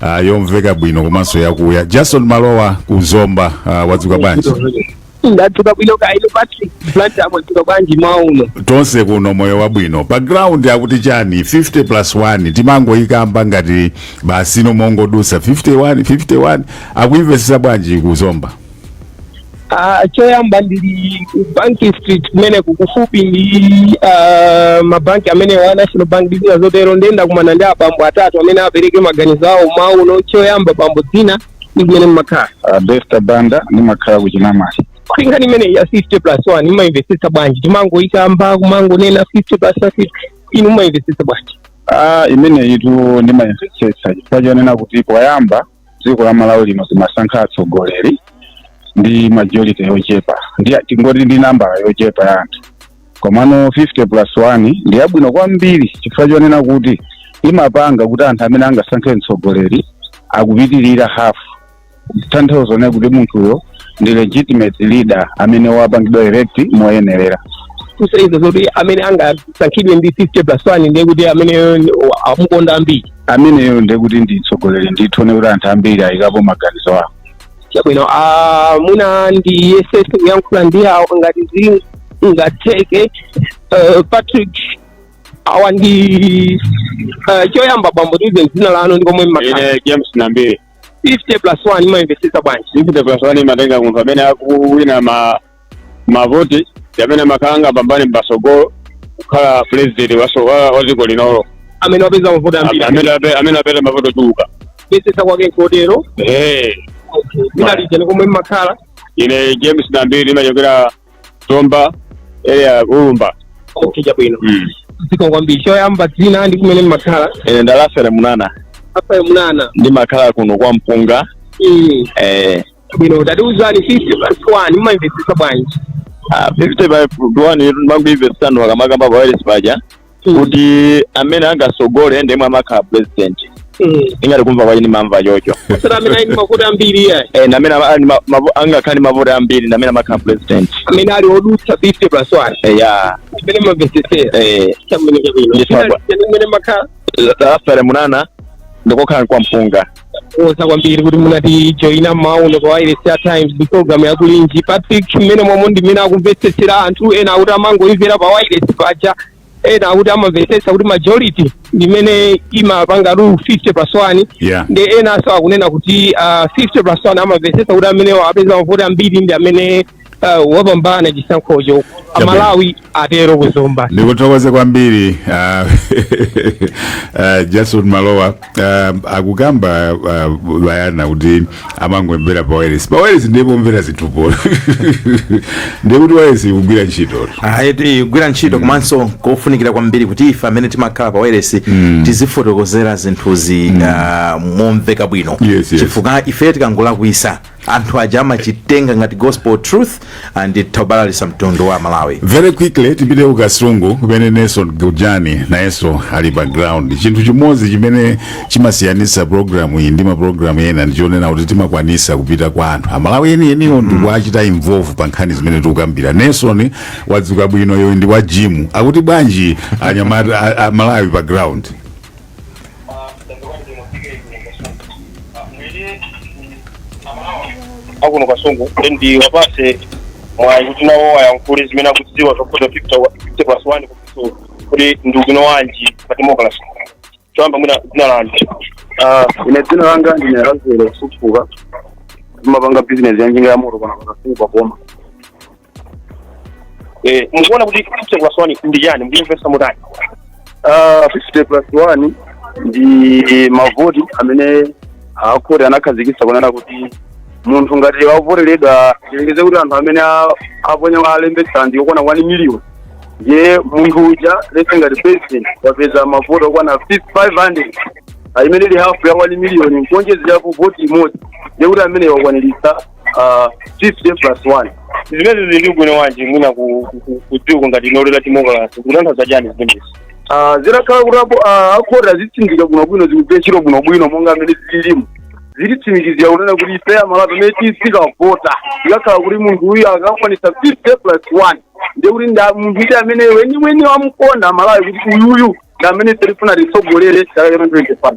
Ah, yomveka bwino komanso yakuya jason malowa ku zomba ah, wadzuka bwanji ndadzuka bwino kaya inu patrick blantyre mwadzuka bwanji mmawa uno tonse kuno moyo wabwino pa ground akuti chani 50 plus 1 timangoyikamba ngati basi no mongodusa 51 51 akuyimvetsetsa bwanji ku zomba Ah, choyamba ndili ku bank street kumene kukufupi ndi ah, mabanki amene wa national bank ndi zina zotero ndiye ndakumana ndi abambo atatu amene apereke maganizo awo mmawa uno choyamba bambo dzina ndi kumene mmakhala uh, Bester Banda ndimakhala ku Chinamwali. nkhani imeneyi ya 50 plus 1 mumaimvetsetsa bwanji timangoyikamba kumangonena 50 plus 50 inu mumaimvetsetsa bwanji Ah, imeneyitu ndimayimvetsetsa chifukwa chonena kuti poyamba dziko la malawi lino timasankha atsogoleri ndi majority yochepa ndi tingoti ndi nambala yochepa ya anthu komano 50 plus 1 ndi yabwino kwambiri chifukwa chonena kuti imapanga kuti anthu amene angasankhe mtsogoleri akupitirira hafu kutanthauza kunena kuti munthuyo ndi legitimate leader amene wapangidwa elect moyenerera kusonyeza zoti amene angasankhidwe ndi 50 plus 1 ndiye kuti amene amukonda ndi ambiri ameneyo ndiye kuti ndi mtsogoleri ndithu wonena kuti anthu ambiri ayikapo maganizo awo chabwino ah, mwina ndiyesese kuyankhula ndi awo ngati zingatheke Eh, patrick awa ndi eh, choyamba bambo tiuze dzina lanu ndi komwe mmakhala ine james nambiri 50 plus 1 mumayimvetsetsa bwanji 50 plus one imatenga munthu amene akuwina ma mavoti ndi amene amakhala angapambane m'patsogolo kukhala president waso- wa wa dziko linolo amene wapeza mavoti ambiri amene ape- amene apeza mavoti ochuluka kuyesetsa kwake nkotero Eh, dzina lija ndi komwe mmakhala ine james nambiri nimachokera zomba area ulumba okay chabwino Mm. dziko kwambiri choyamba dzina ndi kumene mmakhala ine ndalafere munana afayo munana ndimakhala kuno kwa mpunga Mm. eh, bwino tatiuzani 50 plus 1 mumayimvetsetsa bwanji Ah, 50 plus 1 yetu ndimangoimvesitano akamakamba pa wireless paja kuti amene angasogole ndemwe amakhala president Mm. ingati kumva kwache nimamva chocho sara amene ali ndi mavoti ambiri iye Eh, ndamene ama- ali ma- mavo- angakhale ndi mavoti ambiri ndamene amakhala president amene ali odutsa 50 plus 1 Eh, ya mmene mumamvetsetsera eh, chabwino chabwino Yes, China- Papa. chimene makhala alafere munana ndikokhala kwa mpunga kuthokoza kwambiri kuti munatijoina mmawa uno pa wireless ya times ndi program yakulinji patrick mmene momwe ndi mmene akumvetsetsera anthu ena akuti amangoimvera pa wireless paja ena akuti amamvetsetsa kuti majority ndi imene imapangatu 50 plus 1 Yeah. ndi enanso akunena kuti uh, 50 plus 1 amamvetsetsa kuti amene apeza mavoti ambiri ndi amene uh, wapambana chisankhocho amalawi atero kuzomba ndikuthokoze kwambiri ah, ah, jason malowa ah, akukamba ah, bayana kuti amangomvera pa wireless pa wireless ndiye pomvera zinthupo ndiye kuti wireless ikugwira ntchito ayiti igwira ntchito komanso kofunikira kwambiri kuti ife amene timakhala pa wailesi tizifotokozera zinthuzi ah, momveka bwino Yes, yes. chifukwa ife tikangolakwisa anthu aja amachitenga ngati gospel truth and tabalalisa mtundu wa malawi very quickly tipite ku kasungu kumene nelson gujani nayenso ali pa ground chinthu chimodzi chimene chimasiyanisa programu iyi ndi maprogramu ena ndichonena kuti timakwanisa kupita kwa anthu amalawi enieniwo ndikuachita involve pa nkhani zimene tikukambira nelson wadzuka bwino yoyi ndi wa jimu akuti bwanji anyamata a- a malawi pa ground akuno kasungu ndiwapase mwayi kuti nawo ayankhule zimene akudziwa zokhuza 50 plus 1 kupisulu kuti ndi ubwino wanji pa democracy choyamba mwina dzina lanu Ah, ine dzina langa ndine razelo kufufuka ndimapanga bizinesi yanjinga ya moto kuno kasungu pa boma Eh, mukuona kuti 50 plus 1 ndi chani mukuyimvesa mutani Ah, 50 plus 1 ndi mavoti amene akuti anakhazikitsa kunena kuti munthu ngati wavoteredwa tiyerekeze kuti anthu amene a- aponya alembetsa ndi okwana 1 million ndiye munthu uja lese ngati president wapeza mavoti okwana 500 imene ili hafu ya 1 million nkuonjezerapo voti imodzi ndiye kuti amene wakwaniritsa ah, 50 plus 1 zimene zili ndi ubwino wanji mwina ku- ku- ku- kudziko ngati ino la democracy kutanthauza chani zimenezi Ah, zitakhala kuti apo ah, akhoti azitsindika bwinobwino zikugwira ntchito bwinobwino monga amene zililimu zititsimikizira kunena kuti ife amalawi amene tizikavota zikakhala kuti munthu uyu akakwanisa 50 plus 1 ndiye kuti nda munthu ite amene weniweni wamkonda amalawi kuti uyuyu ndi amene ife tifuna atitsogolere chaka cha 2025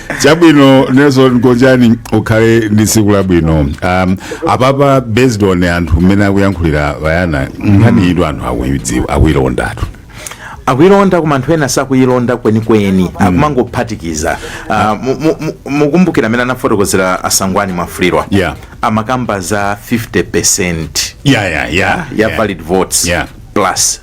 chabwino nelson gonjani ukhale ndi tsiku labwino um, apapa based on anthu mmene akuyankhulira Bayana nkhani iyitu anthu akuyidziwa akuyilondatu akuyilonda koma anthu ena sakuyilonda kwenikweni akumangophatikiza Ah, mu- mu- mu- mukumbukira amene anafotokozera a Sangwani Mwafulirwa Yeah. amakamba za 50 percent ya ya ya ya valid votes Yeah. plus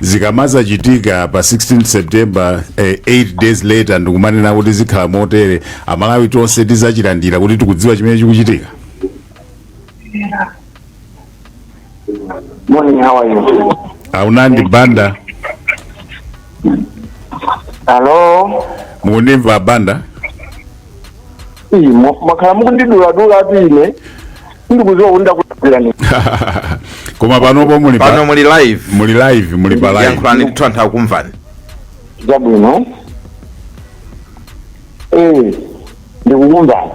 zikamazachitika pa 16 september eh, 8 days later ndikumanena kuti zikhala motere amalawi tonse tizachilandira kuti tikudziwa chimene chikuchitika Morning, how are you? a Unandi Banda Hello? mukundimva banda Ii, mwa- mwakhala mukundidula-dula ati ine sindikuziwa kuti ndakulakwirani koma panopo muli pano pa- muli live muli live muli pa live yankhulani ndithu anthu akumvani zabwino ee ndikukumvani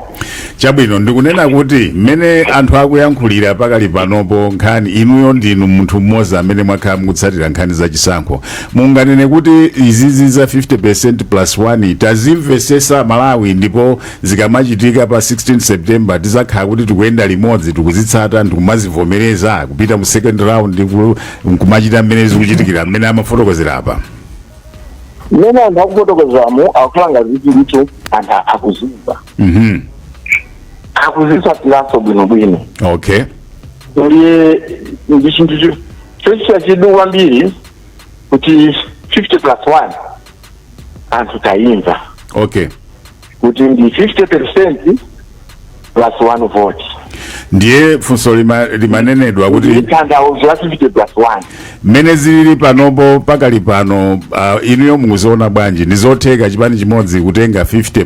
chabwino ndikunena kuti mmene anthu akuyankhulira pakali panopo nkhani inuyo ndinu munthu mmodzi amene mwakhala mukutsatira nkhani za chisankho munganene kuti izizi za 50 plus 1 tazimvesesa malawi ndipo zikamachitika pa 16 september tizakhala kuti tikuyenda limodzi tikuzitsata ndikumazivomereza kupita mu second round ndiku- nkumachita mmene zikuchitikira mmene amafotokozera apa mmene anthu akufotokozamo akukhala ngati kuti anthu akuzimva Mhm. akuzitsatiranso bwinobwino okay ndiye ndi chinthu cho- chochita chidwi kwambiri kuti 50 plus 1 anthu tayimva okay kuti ndi 50 percent plus one vote ndiye funso lima, limanenedwa kuti tanthauzo la 50 plus one mmene zilili panopo pakali pano uh, inuyo mukuziona bwanji ndi zotheka chipani chimodzi kutenga 50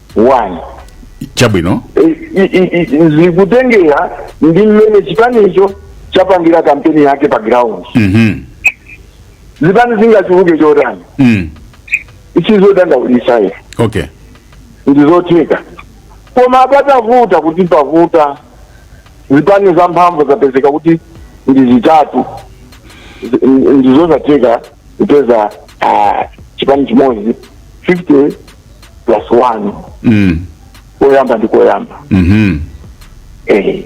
one chabwino I- i- i- i- zikutengera ndi mmene chipanicho chapangira kampeni yake pa ground Mhm. zipani zingachuluke chotani Mm. si zodandaulisa ife okay ndizotheka koma patavuta kuti pavuta zipani za mphamvu zapezeka kuti ndi zitatu Zi- ndizosatheka kupeza ah, chipani chimodzi 50 plus one mm. koyamba ndi koyamba mhm eh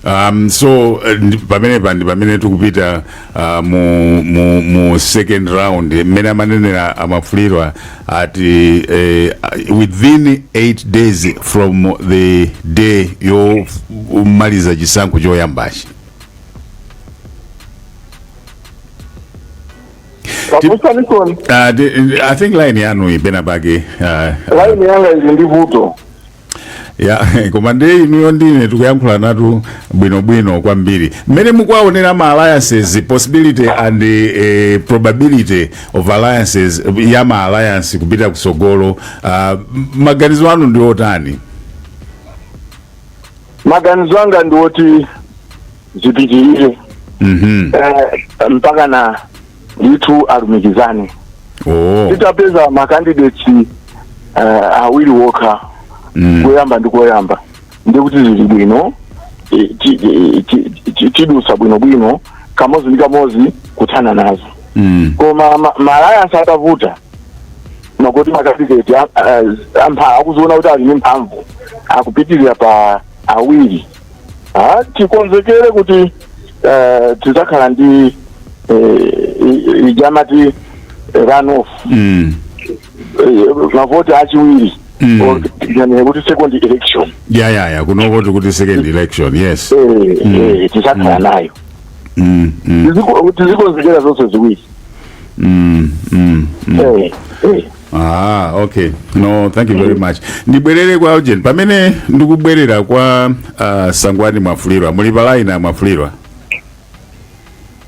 um so uh, ndi- pamenepa ndi pamene tikupita uh, mu, mu, mu second round mmene amanenera a Mwafulirwa ati eh, within 8 days from the day yomaliza chisankho choyambachi pakusanisoni Uh, the, I think line yanu ipena pake uh, laini yanga ili ndi vuto ya koma ndiye inuyo ndine tikuyankhula nanu bwinobwino kwambiri mmene mukuwaonera ma alliances possibility and eh, probability of alliances ya ma alliance kupita kusogolo uh, maganizo anu ndi otani maganizo anga ndi oti zipitirire Mhm. eh, mpaka na ndithu alumikizane Oh. titapeza makandidates uh, awiri wokha Mm. koyamba ndi koyamba ndikuti zili bwino eh, ti- eh, ti- ti- tidusa bwinobwino kamodzi ndi kamodzi kuthana nazo Mm. koma ma- ma alliance atavuta mwakuti makandideti ampha akuziona kuti ali ndi mphamvu akupitirira pa awiri Ah, tikonzekere kuti eh, tidzakhala ndi eh, i- ija amati runoff mm. eh, mavoti achiwiri Mm. or yani kuti second election ya ya ya kunoko tikuti second election yes Eh, eh, tidzakhala nayo mm, mm, Tiziko- tizikonzekera zonse ziwiri mm, mm, mm. Eh, eh. Ah, okay. No, thank you very much. Ndibwerere kwa ujeni. Pamene ndikubwerera kwa uh, Sangwani Mwafulirwa, muli pa line Mwafulirwa.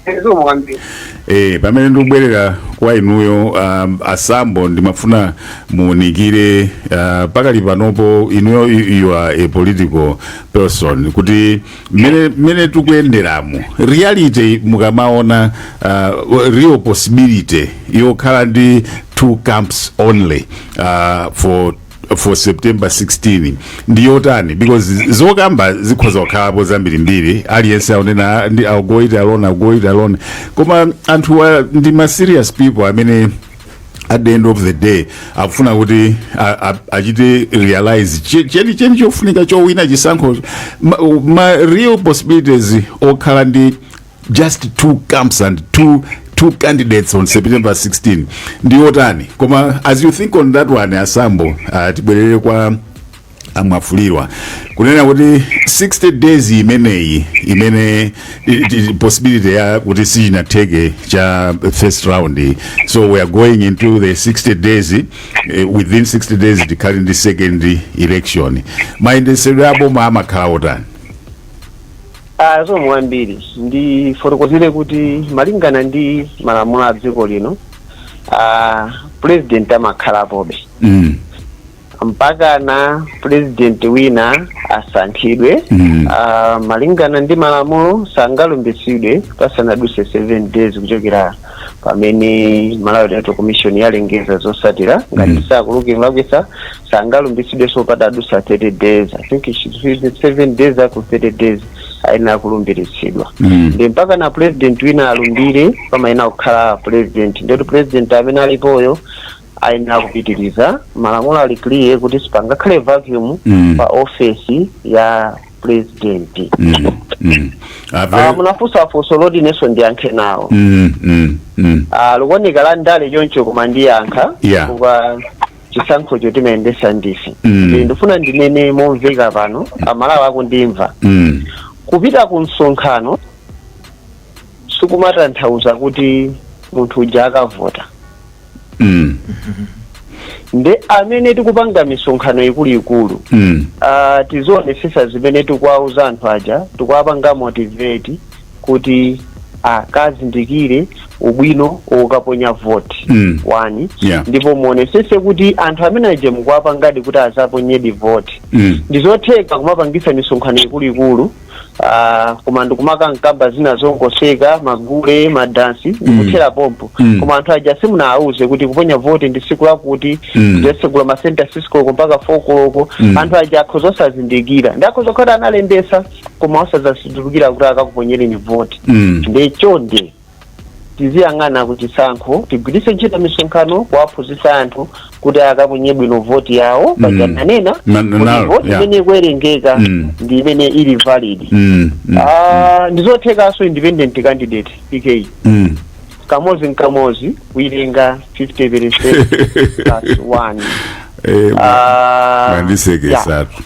Ezo mwambi. Eh, pamene ndikubwerera kwa inuyo um, a Sambo ndimafuna muunikire uh, pakali panopo inuyo you are a political person kuti mmene mmene tikuyenderamo reality mukamaona uh, real possibility yokhala ndi two camps only uh, for for september 16 ndi yotani because zokamba zikhoza kukhalapo zambirimbiri aliyense akunena I'll go it alone I'll go it alone koma anthu wa- ndi ma serious people amene at the end of the day akufuna kuti a- a- achite realize che- chenicheni chofunika chowina chisankho ma, ma real possibilities okhala ndi just two camps and two two candidates on september 16 ndi otani koma as you think on that one a Sambo uh, tibwerere kwa amafulirwa kunena kuti 60 days imeneyi imene i- i- possibility ya kuti sichinatheke cha first round so we are going into the 60 days eh, within 60 days tikhale ndi second election mayendesedwe aboma amakhala otani Ah, so mwambiri ndifotokozere kuti malingana ndi malamulo a dziko lino ah, president amakhalapobe mm. mpakana president wina asankhidwe Mm. Ah, malingana ndi malamulo sangalumbisidwe pasanaduse 7 days kuchokera pamene malawi electoral commission yalengeza zosatira ngati Mm. sakuluki mlakwisa sangalumbisidwe so patadusa 30 days i think it should be 7 days up to 30 days ayenera kulumbiritsidwa Mm. ndi mpakana president wina alumbire pamayenera kukhala president ndi president amene alipoyo ayenera kupitiriza malamulo ali clear kuti sipangakhale vacuum Mm. pa ofesi ya president Mm, mm. Ah, Ave- munafunsa funso loti inenso ndiyankhe nawo Mm, mm, mm. Ah, likuoneka la ndale choncho koma ndiyankha Yeah. chifukwa chisankhocho timayendesa ndife Mm. Ndi- ndifuna ndinene momveka pano amalawi akundimva Mm, kupita ku msonkhano sikumatanthauza kuti munthu uja akavota mm. nde amene tikupanga misonkhano ikuluikulu mm. uh, tizionesesa zimene tikuwauza anthu aja tikuwapanga motivate kuti akazindikire ubwino wokaponya vote Mm. one Yeah. ndipo muonesese kuti anthu amene aja mukuwapangadi kuti azaponyedi vote mm. ndizotheka kumapangisa misonkhano ikuluikulu Ah, koma ndikumakamkamba zina zongoseka magule madansi ndikuthera pompo Mm. koma anthu aja simunawauze kuti kuponya voti ndi siku lakuti Mm. adzatsegula masenta 6 koloko mpaka 4 koloko Mm. anthu aja akhoza osazindikira ndi akhoza kukhala analembesa koma osazazindukira kuti akakuponyereni voti Mm. ndi chonde Tiziyang'ana ku chisankho, tigwiritse ntchito misonkhano kuwaphunzitsa anthu kuti akaponye bwino voti yawo paja Mm. nanena Na- na- kuti na- voti yeah. imene ikuwerengeka Mm. ndi imene ili valid Mm, mm, Ah, ndizothekanso independent candidate pk mm. kamozi n'kamozi kuitenga 50 percent plus 1 Eh, Ah, yeah. mwandisekesatu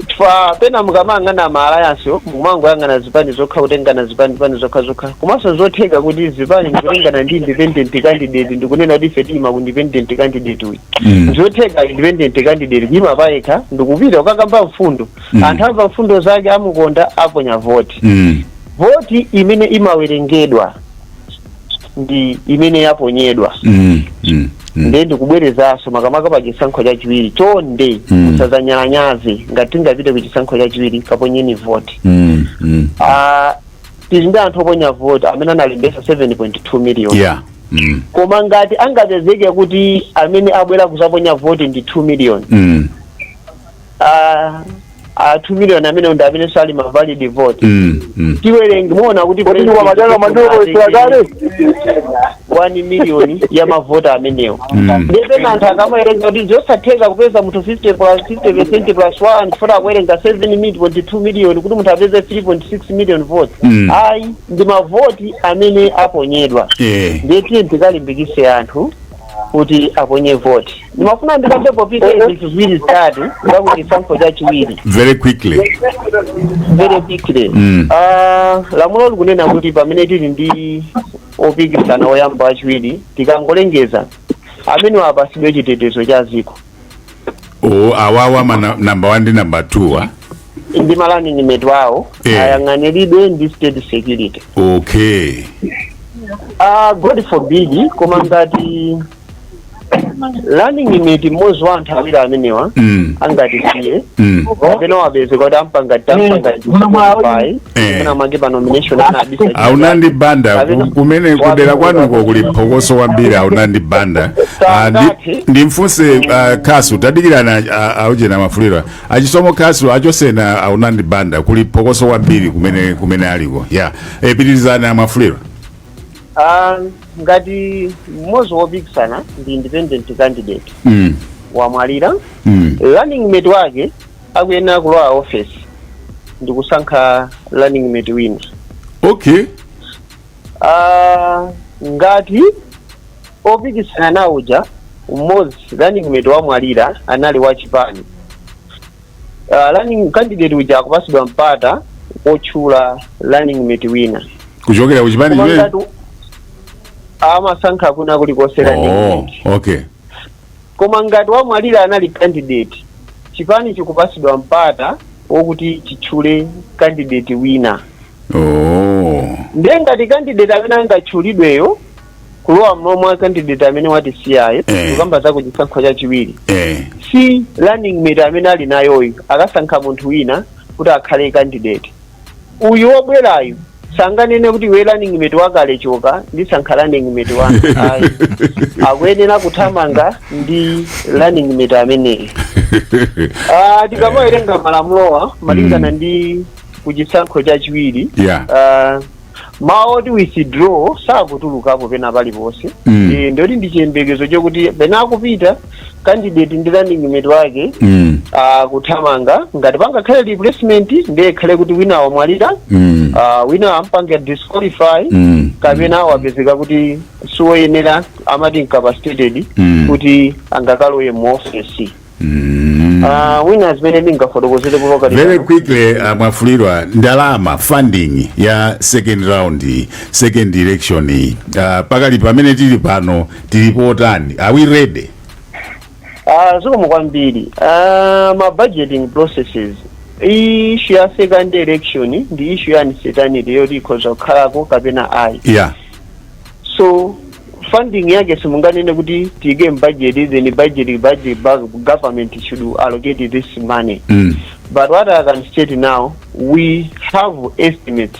chifukwa pena mukamayang'ana ma alliance mumangoyang'ana zipani zokha kutengana zipani zipani zokha zokha komanso zotheka kuti zipani ndikutengana ndi independent candidate ndikunena kuti ife tiima ku independent candidate uyu Mm. zotheka independent candidate kuima payekha ndikupita kukakamba mfundo Mm. anthu amva mfundo zake amukonda aponya voti Mm. voti imene imawerengedwa ndi imene yaponyedwa Mm, mm, mm. nde ndikubwerezanso makamaka pa chisankho chachiwiri chonde Mm. musazanyalanyaze ngati tingapite ku chisankho chachiwiri kaponyeni voti Mm, mm. Ah, tili ndi anthu oponya voti amene analembesa 7.2 million Yeah. Mm, koma ngati angapezeke kuti amene abwera kuzaponya voti ndi 2 million mm. ah, ah, 2 million amenewo ndi amene sali ma valid vote Mm, mm. tiwerenge muona kuti Kodi ndi kwamajanga mandiwo isakale? 1 million ya mavoti amenewo Mm. ndepena anthu akamawerenga kuti zosatheka kupeza munthu 50 plus 50 percent plus 1 chifukwa akuwerenga 7.2 million kuti munthu apeze 3.6 million vote Mm. ayi ndi mavoti amene aponyedwa Eh. ndiye tiyeni tikalimbikise anthu kuti aponye voti ndimafuna ndikambe popita zinthu ziwiri zitatu zakuti chisankho chachiwiri very quickly very quickly Mm. Ah, lamulo likunena kuti pamene tili ndi opikisana oyamba wachiwiri tikangolengeza amenewa apasidwe chitetezo cha ziko o awawa ma na- number 1 ndi number 2 wa ndi ma running mate awo Eh. ayang'aniridwe ndi state security okay Ah, god forbid koma ngati running mate mmodzi wa anthu awiri amenewa mm, angatisiye mm. kapena wapezeka kuti ampanga tampanga Muno mwawo. pai Eh. Kuna mage pa nomination ana abisa. aunandi banda ku- kumene kudera kwanuko kuli phokoso kwambiri aunandi banda Ah, ndi- ndimfunse ah, khasu tadikirani ah, auchena mafuliro achisomo khasu achosena aunandi banda kuli phokoso kwambiri kumene kumene aliko ya Eh, pitirizani a Mafuliro Ah, ngati mmodzi wopikisana ndi independent candidate mm, wamwalira mm. running mate wake akuyenera kulowa ofesi ndikusankha running mate wina okay Ah, ngati opikisana nawo uja mmodzi running mate wamwalira anali wachipani Ah, running candidate uja akupasidwa mpata otchula running mate wina kuchokera kuchipani Koma chimene ngati amasankha kwina kulikonse running oh mate okay Koma ngati wamwalira anali candidate, chipani chikupasidwa mpata wokuti chitchule candidate wina. Ooo. Ndiye ngati candidate amene angatchulidweyo kulowa mmalo mwa candidate amene watisiyayo Eh. kukamba za kuchisankho chachiwiri Eh. si running mate amene ali nayoyo akasankha munthu wina kuti akhale candidate uyu wobwerayu sanganene kuti iwe running mate wakale choka ndisankha running mate wanu ayi akuyenera kuthamanga ndi running mate ameneyo Ah, tikamawerenga malamulowa malingana ndi kuchisankho cha chiwiri Yeah. ah, mawu oti withdraw sakutulukapo pena paliponse Mm. Eh, nditi ndi chiyembekezo chokuti pena akupita candidate ndi running mate wake Mm. ah, kuthamanga ngati pangakhale replacement ndiye ikhale kuti wina wamwalira Mm. ah, wina ampanga disqualify Mm. kapena wapezeka kuti siwoyenera amati incapacitated Mm. kuti angakalowe mu ofesi Mm. Ah, Winnes mmene ndingafotokozere kunoko very quickly uh, mwafulirwa ndalama funding ya second round second election uh, pakali pamene tili pano tili pati are we ready Ah, zikomo kwambiri Ah, mma budgeting processes iyi issue ya second election ndi issue ya uncertainty yoti ikhoza kukhalako kapena ayi yeah so funding yake simunganene kuti tiyike mbudget then budget budget ba- government should allocate this money mm. but what i can state now we have estimates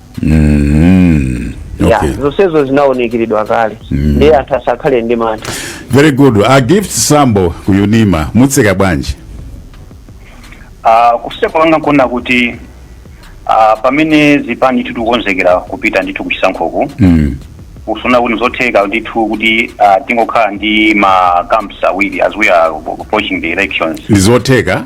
Mhm. ya Okay. zonsezo zinaonekeredwa kale ndiye anthu asakhale ndi mantha Very good. A Gift Sambo ku Unima mutseka bwanji? Ah, kutseka kwanga nkunena kuti ah, pamene zipani tikukonzekera kupita ndithu kuchisankhoku Mm. nkuona kuti n'zotheka ndithu kuti ah, tingokhala ndi ma camps awiri as we are approaching the elections Ndizotheka?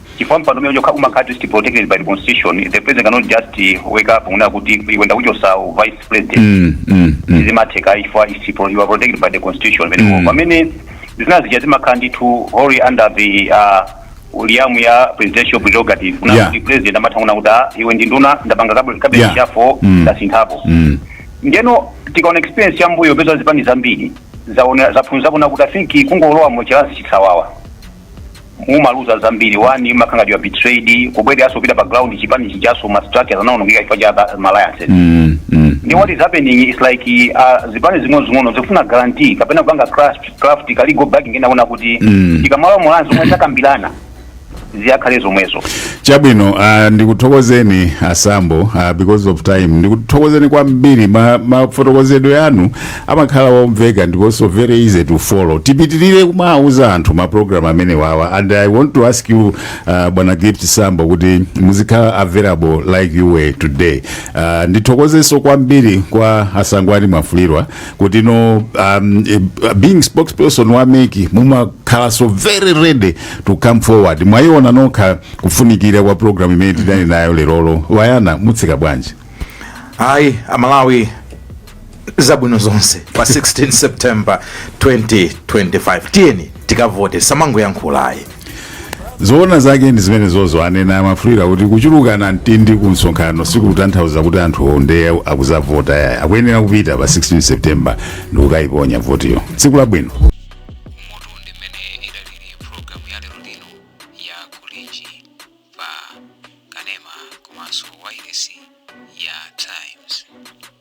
chifukwa mpando umene chokha umakhala at least protected by the constitution the president cannot just uh, wake up kunena kuti iwe ndakuchotsa u vice president Mm, mm, mm. sizimatheka chifukwa it's pro- you are protected by the constitution pamenepo Mm. pamene zina zija zimakhala ndithu wholly under the uh, realm ya presidential prerogative kunena Yeah. kuti president amatha kunena kuti "Ah, iwe ndi nduna ndapanga cabi- cabinet Yeah. reshuffle Mm. ndasinthapo Mm. ndeno tikaona experience ya mbuyo mupeza zipani zambiri zaona zaphunzira kunena kuti i think kungolowa mu ma alliance chisawawa mumaluza zambiri one mumakhala ngati mwa betrayed kubwereranso kupita pa ground chipani chijaso ma structures anaonongeka chifukwa cha ba- ma alliances Mm, mm. ndi what is happening is like uh, zipani zing'onozing'ono zikufuna guarantee kapena kupanga craft craft ka legal backing kunena kuti Mm. tikamalowa mu alliance zomwe takambirana zizakhale zomwezo chabwino uh, ndikuthokozeni a Sambo uh, because of time ndikuthokozeni kwambiri mafotokozedwe ma mafotokozedwe anu amakhala womveka ndiponso very easy to follow tipitirire kumawuza anthu ma program amene wawa and i want to ask you uh, bwana gift sambo kuti muzikhala available like you were today uh, ndithokozenso kwambiri kwa a Sangwani Mwafulirwa kuti no um, eh, being spokesperson wa MEC mumakhalanso very ready to come forward mwayiona nokha kufunikira kwa program imene tidali nayo lerolo wayana mutseka bwanji ayi amalawi zabwino zonse pa 16 september 2025 tiyeni tikavote samangoyankhulayi zoona zake ndi zimene zozo anena a Mwafulirwa kuti kuchulukana mtindindi ku msonkhano sikutanthauza kuti anthu ondeo akuzavota yaya akuyenera kupita pa 16 september ndikukayiponya votiyo tsiku labwino umutu ndi mmene idalili pulogalamu ya lero lino ya kulinji pa kanema komanso wailesi ya times